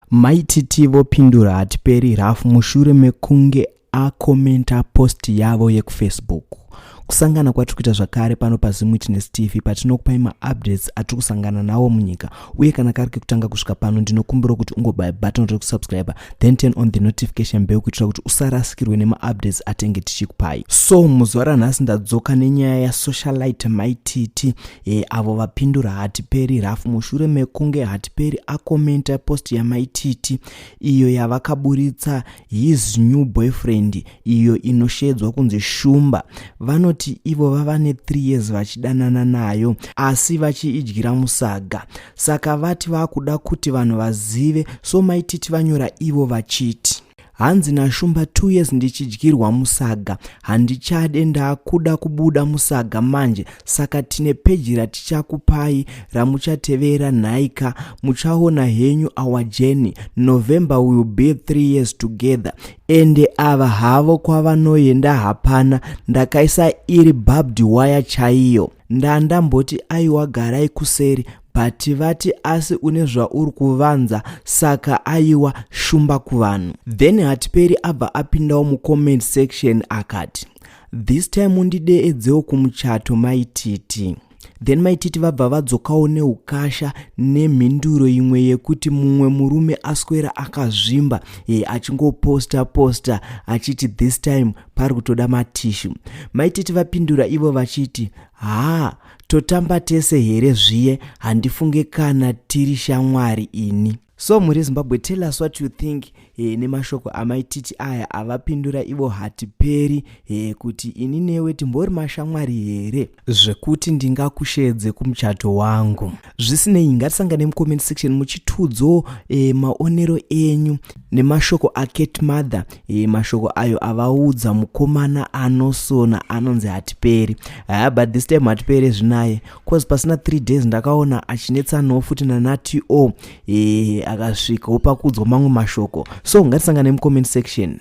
Mai Titi vopindura hatiperi rough mushure mekunge akomenta post yavo yekufacebook. Kusangana kwatiri kuita zvakare pano paZim Witness TV patinokupai maupdates atiri kusangana nawo munyika uye kana kari kekutanga kusvika pano ndinokumbira kuti ungobaya button rekusubscriber then turn on the notification bell kuitira kuti usarasikirwe nemaupdates atenge tichikupai. So muzuva ranhasi ndadzoka nenyaya yasocialite Mai Titi e, avo vapindura hatiperi rafu mushure mekunge hatiperi akomenta post yamaititi iyo yavakaburitsa his new boyfriend iyo inoshedzwa kunzi shumba vanoti ivo vava ne 3 years vachidanana nayo asi vachiidyira musaga saka vati vakuda kuti vanhu vazive so maititi vanyora ivo vachiti hanzi nashumba two years ndichidyirwa musaga handichade ndakuda kubuda musaga manje saka tine peji ratichakupai ramuchatevera nhaika muchaona henyu our journey november will be three years together ende ava havo kwavanoenda hapana ndakaisa iri bhabdi waya chaiyo ndandamboti aiwa garai kuseri but vati asi une zvauri kuvanza saka aiwa shumba kuvanhu then hatiperi abva apindawo mucomment section akati this time undideedzewo kumuchato maititi then maititi vabva vadzokawo neukasha nemhinduro imwe yekuti mumwe murume aswera akazvimba e achingoposta posta achiti this time pari kutoda matishu maititi vapindura ivo vachiti haa totamba tese here zviye handifunge kana tiri shamwari ini so muri zimbabwe tell us what you think e, nemashoko amaititi aya avapindura ivo hatiperi e, kuti ini newe timbori mashamwari here zvekuti ndingakusheedze kumuchato wangu zvisinei ngatisangane mucomment section muchitudzo e, maonero enyu nemashoko acat mother e, mashoko ayo avaudza mukomana anosona anonzi hatiperi haya but this time hatipere zvinaye cause pasina three days ndakaona achinetsanawo futi nanatio e, eh, akasvikawo pakuudzwa mamwe mashoko so ngatisangane mucomment section